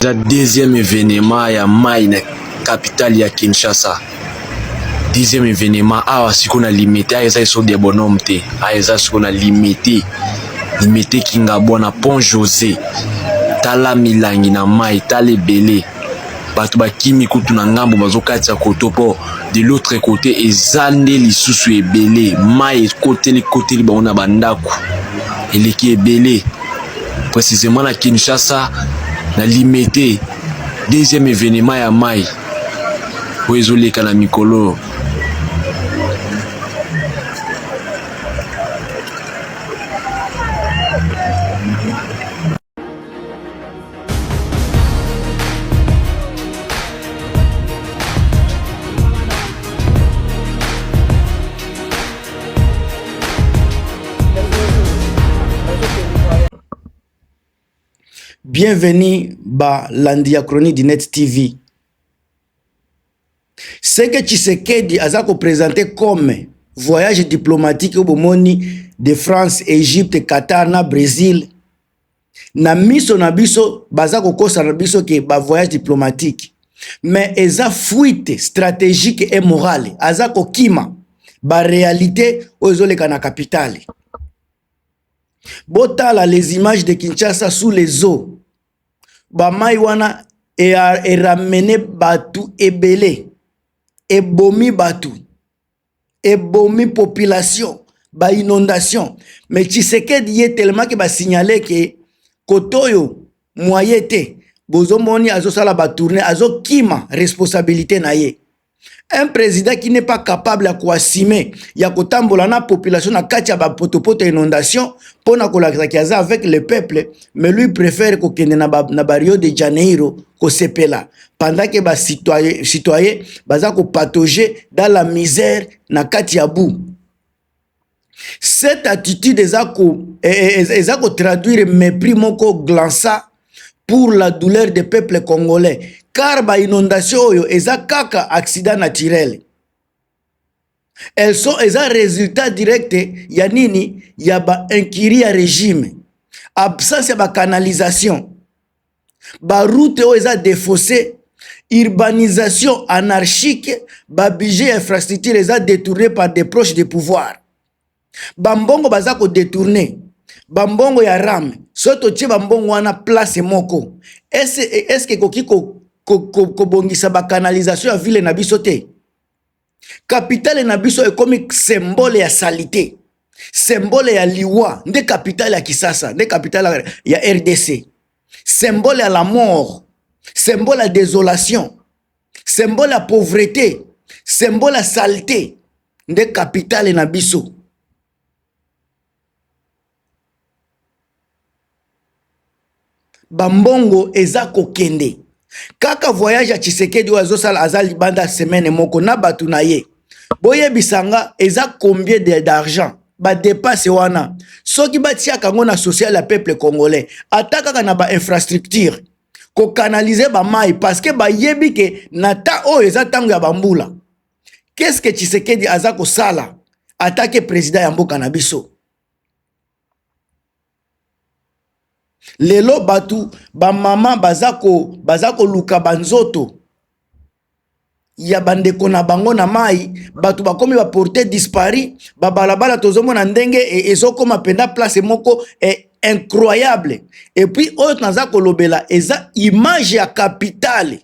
eza deuxième événement ya mai na capitale ya kinshasa deuxième événement awa sikoyo na limite awa eza esobe ya bonhomme te awa eza sikoyo na limite limite kingabwa na pont josé tala milangi na mai tala ebele bato bakimi kutu na ngambo bazokati ya koto mpo de l'autre côté eza nde lisusu ebele mai ekoteli koteli bango na bandako eleki ebele précisément na kinshasa na limete deuxième événement ya mai oyo ezoleka na mikolo bienvenue balandi ya chronique du net tv Ce que Tshisekedi aza ko presenter comme voyage diplomatique oyo bomoni de France, Egypte, Qatar na Bresil na miso na biso baza kokosa na biso ke ba voyage diplomatique mais eza fuite stratégique et morale aza kokima ba réalité oyo ezoleka na capitale botala les images de Kinshasa sous les eaux bamai wana eramene bato ebele ebomi bato ebomi population ba inondation mais tshisekedi ye telemaki basignale ke kote oyo moye te bozomoni azosala batourne azokima responsabilité na ye un président qui n'est pas capable ya koasime ya kotambola na population na kati ya bapotopoto ya inondation mpo na kolakisaki aza avec le peuple mais lui préfère kokende na, ba, na bario de janeiro kosepela pendant ke bacitoyen baza kopatoge dans la misère na kati ya bout cette attitude eza ko eh, eh, eh, eza ko traduire mépris moko glança pour la douleur des peuples congolais car ba inondation oyo eza kaka accident naturel elles sont eza résultat direct ya nini ya ba incurie ya régime absence ya ba canalisation ba route oyo eza defausse urbanisation anarchique ba budget ya infrastructure eza détourné par des proches de pouvoir bambongo baza kodetourne bambongo ya rame soki totie bambongo wana place moko eske ekoki kobongisa ko, ko, ko bacanalisation ya ville na biso te kapitale na biso ekomi sembole ya salite sembole ya liwa nde kapitale ya kisasa nde kapitale ya rdc sembole ya la mort sembole ya desolation sembole ya pauvrete sembole ya salite nde kapitale na biso Ba mbongo eza kokende kaka voyage ya Tshisekedi oyo azosala aza libanda semaine moko na bato na ye boyebisa nga eza combien de d'argent ba depasse wana soki batiaka yango na social ya peuple congolais ata kaka na ba infrastructure kokanalize bamai parce que bayebi ke na ta oyo eza ntango ya bambula qu'est ce que Tshisekedi aza kosala atake president ya mboka na biso lelo batu bamama baza ko baza koluka banzoto ya bandeko na bango na mai bato bakomi baporte dispari babalabala tozomona ndenge e, ezokoma mpenza place moko e, incroyable epuis oyo naza kolobela eza image ya kapitale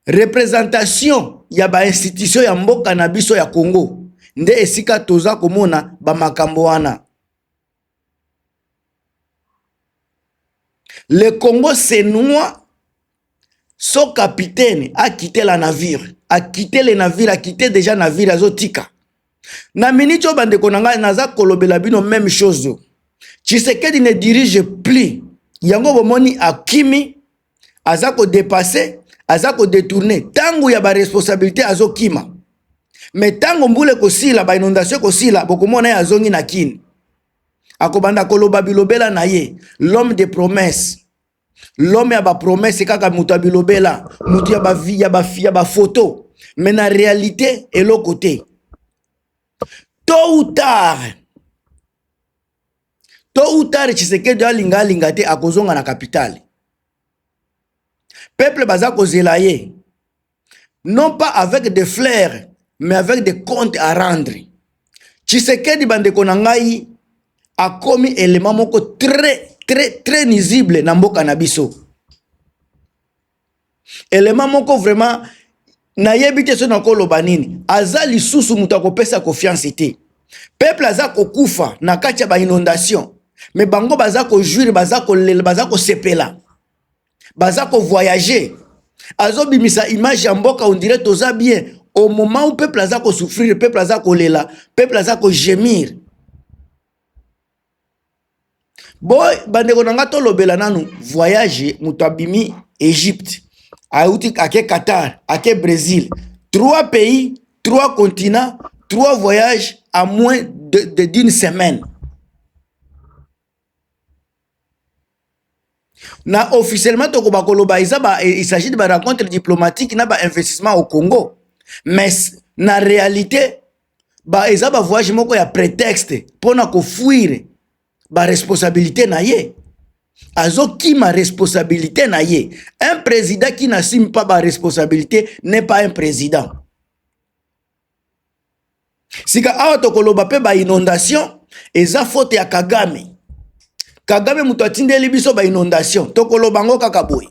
representation ya ba institution ya mboka na biso ya Congo nde esika toza komona ba makambo wana le Congo c'est noir so capitaine a quitté la navire a quitté le navire a quitté déjà navire azotika na miniti oyo bandeko na ngai naza kolobela bino meme chose tshisekedi ne dirige plus yango bomoni akimi aza ko depasser aza ko detourner ntango ya baresponsabilité azokima me ntango mbula ekosila bainondation ekosila bokomona ye azongi na kini akobanda koloba bilobela na ye l'homme de promesse l'homme ya bapromesse kaka moto ya bilobela moto ya bavi ya bafi ya bafoto me na réalité eloko te tôt ou tard tôt ou tard tshisekedi alinga alinga te akozonga na kapitale peuple baza kozela ye non pas avec des fleurs mais avec des comptes à rendre tshisekedi bandeko na ngai akomi elema moko très très très nuisible na mboka na biso elema moko vraiment nayebi te soki nakoloba nini aza lisusu moto akopesa confiance te peuple aza kokufa na kati ya bainondation me bango baza kojuire baza kolela baza kosepela baza kovoyage azobimisa image ya mboka ondire toza bien au moment où peuple aza kosouffrir peuple aza kolela peuple aza kogemir Bo bandeko na nga tolobela nanu voyage moto abimi Egypte ayuti ake Qatar ake Brésil trois pays trois continents trois voyages à moins de, de d'une semaine na officiellement tokoba koloba eza ba il s'agit de ba rencontre diplomatique na ba investissement au Congo mais na réalité ba eza ba voyage moko ya prétexte pona ko fuir ba responsabilité na ye azokima responsabilité na ye un président qui n'assume pas ba responsabilité n'est pas un président sika awa tokoloba mpe ba inondation eza faute ya kagame kagame moto atindeli biso ba inondation tokoloba yango kaka boye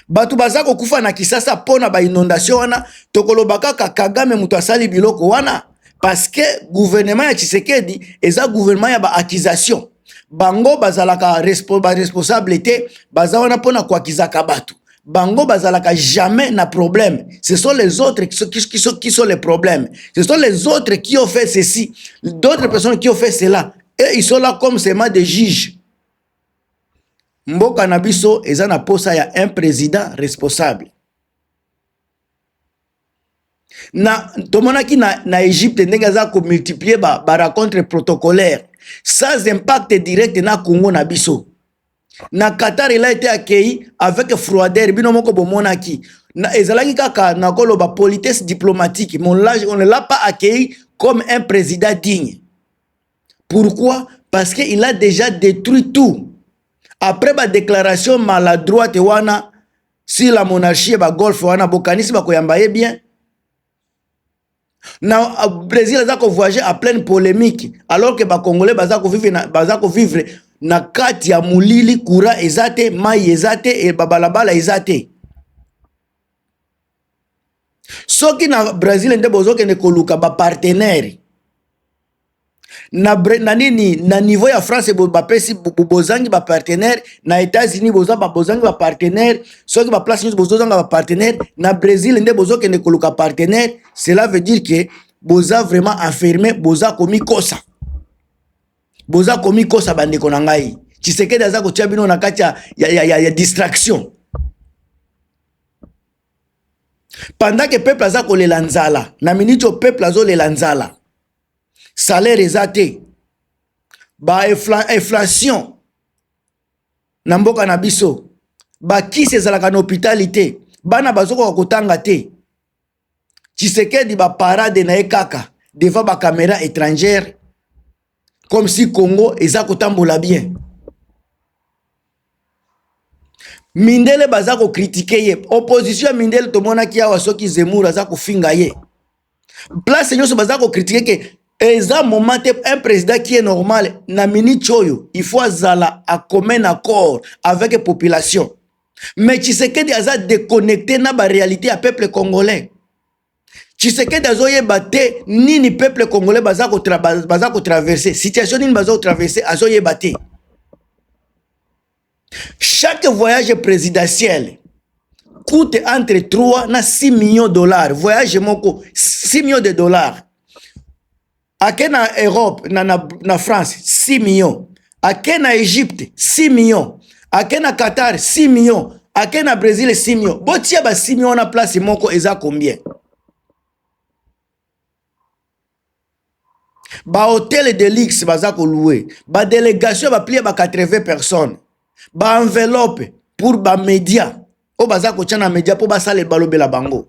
bato baza kokufa na kisasa mpo na ba inondation wana tokoloba kaka kagame moto asali biloko wana parce que gouvernement ya tshisekedi eza gouvernement ya ba accusation bango bazalaka ba responsable te baza wana mpo na koakizaka bato bango bazalaka jamais na problème ce sont les autres qui sont, qui, sont, qui sont les problèmes ce sont les autres qui ont fait ceci d'autres personnes qui ont fait cela et ils sont là comme seulement des juges mboka na biso eza na posa ya un président responsable na tomonaki na, na egypte ndenge aza komultiplie ba, ba rencontre protocolaire sans impact direct na congo na biso na qatar ela ete akei avec froider bino moko bomonaki na, ezalaki kaka nakoloba politesse diplomatique mon lage on ne l'a pas accueilli comme un président digne pourquoi parce que il a déjà détruit tout après badéclaration maladroite wana si la monarchie ba golf wana bokanisi bakoyamba ye bien na euh, brésil aza kovoyage à pleine polémique alors que bacongolais baza kovivre na, baza kovivre na kati ya molili courant eza te mai eza te e babalabala eza te soki na brésil nde bozokende koluka bapartenere na, bre, na nini na niveau ya france bapesi bozangi bapartenaire na états-unis boza bozangi bapartenaire soki baplace nyonso bozozanga bapartenaire na brésil nde bozokende koluka partenaire cela veut dire que boza vraiment affirme boza komikosa boza komikosa bandeko na ngai tshisekedi aza kotya bino na kati ya, ya, ya, ya, ya distraction pendant que peuple aza kolela nzala na miniti oyo peuple azolela nzala salaire eza te ba inflation na mboka na biso bakisi ezalaka na hopitali te bana bazokoka kotanga te tshisekedi baparade na ye kaka devant bakamera étrangère comme si congo eza kotambola bien mindele baza ko critiquer ye opposition ya mindele tomonaki awa soki zemmour aza kofinga ye place nyonso baza ko critiquer ke eza moment te un président qui est normal na minute oyo il faut azala a commun accord avec population mais tshisekedi aza déconnecté na ba réalité ya peuple congolais tshisekedi azoyeba te nini peuple congolais baza kotraverse baza ko situation nini baza kotraverse azoyeba te chaque voyage présidentiel coûte entre 3 na 6 millions de dollars voyage moko 6 millions de dollars ake na europe na, na, na france 6 million ake na egypte 6 million ake na qatar 6 million ake na brésil 6 million botia ba 6 million wana place moko eza combien bahotel de luxe baza koloue badelegation baplie ba 80 personnes baenveloppe pour bamédia oyo baza kotya na média mpo basala balobela bango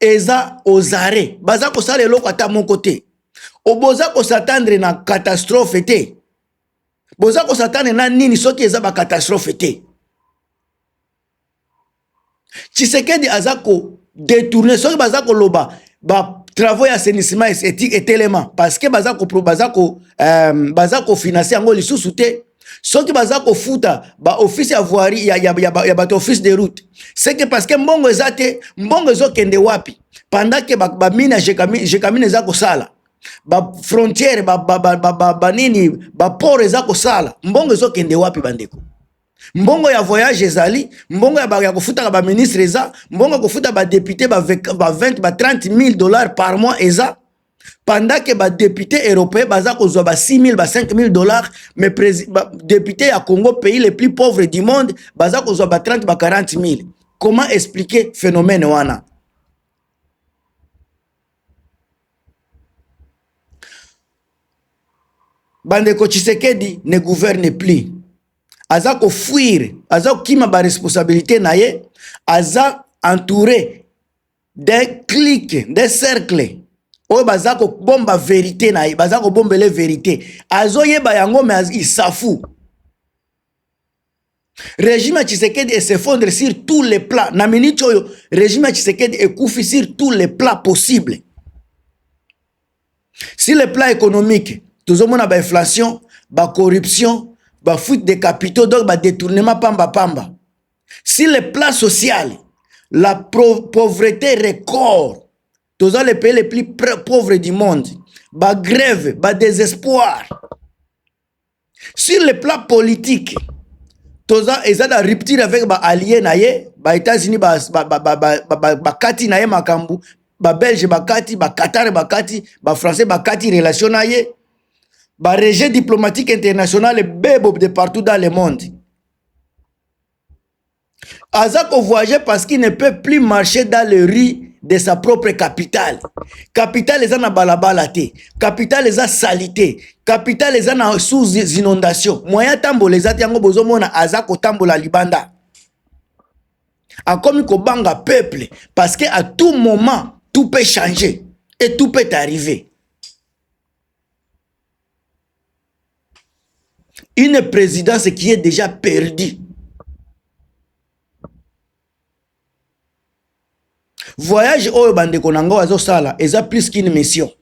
eza aux arrêts baza kosala eloko ata moko te oboza kosatandre na catastrophe te boza kosatandre na nini soki eza bacatastrophe te tshisekedi aza kodetourne soki baza koloba ba travaux ya assainissement etelema parce que baza kofinanse euh, yango lisusu te soki baza kofuta baoffice ya voirie ya, ya, ya, ya bato office de route seke parce que mbongo eza te mbongo ezokende wapi pendant ke bamine ba ya jekamine eza kosala bafrontière banini ba, ba, ba, baport eza kosala mbongo ezokende wapi bandeko mbongo ya voyage ezali mbongo ya, ya kofutaka baministre eza mbongo ya kofuta badepute ba 20 ba 30 000 dollars par mois eza pendant que ba députés européens baza kozwa ba 6000 ba 5000 dollars mais ba députés ya Congo pays les plus pauvres du monde baza kozwa ba 30 ba 40000 comment expliquer phénomène wana bandeko Tshisekedi ne gouverne plus aza kofuire aza kokima baresponsabilité na ye aza entouré des cliques des cercles oyo baza kobomba verite na ye baza kobombele verite azoyeba yango me isafu régime ya tshisekedi esefondre sur tous les plats na minute oyo régime ya tshisekedi ekufi sur tous les plats possible sur le plan économique tozomona bainflation bacorruption bafuite de capitaux donc badetournement pamba pamba si le plan social la pauvreté record toza le pays le plus pauvre du monde bagrève badésespoir sur le plan politique toza eza na rupture avec baallie na ye baétats-unis bakati ba, ba, ba, ba, ba, ba, ba, ba, na ye makambo babelge bakati baqatar bakati bafrançais bakati relation na ye baregie diplomatique internationale bebo de partout dans le monde aza ko voyager parce qu'il ne peut plus marcher dans le rue de sa propre capitale capitale eza na balabala te capitale eza salite capitale eza na sous inondation moyen atambola eza te yango bozomona aza kotambola libanda akomi kobanga peuple parce que à tout moment tout peut changer et tout peut arriver Une présidence qui est déjà perdue. Voyage oyo bandeko na ngo azosala eza plus qu'une mission.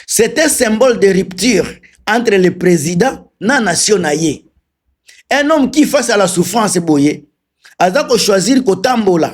C'est un symbole de rupture entre le président na nation na ye. Un homme qui face à la souffrance boye aza ko choisir kotambola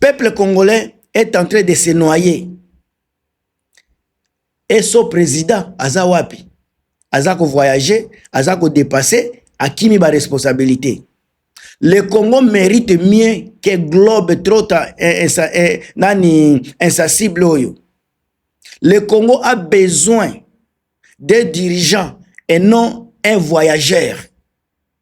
Peuple congolais est en train de se noyer Esso president aza wapi? Aza ko voyager, aza ko depasser, akimi ba responsabilites. Le Congo mérite mieux que globe trotteur eh, eh, eh, nani insensible oyo. Le Congo a besoin des dirigeants et non un voyageur.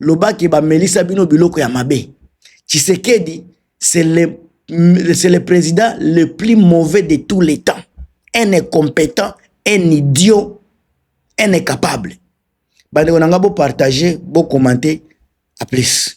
loba ke bamelisa bino biloko ya mabe tshisekedi c'est le, c'est le président le plus mauvais de tous les temps un incompétent un idiot un incapable bandeko na ngai bopartage bokommente a plus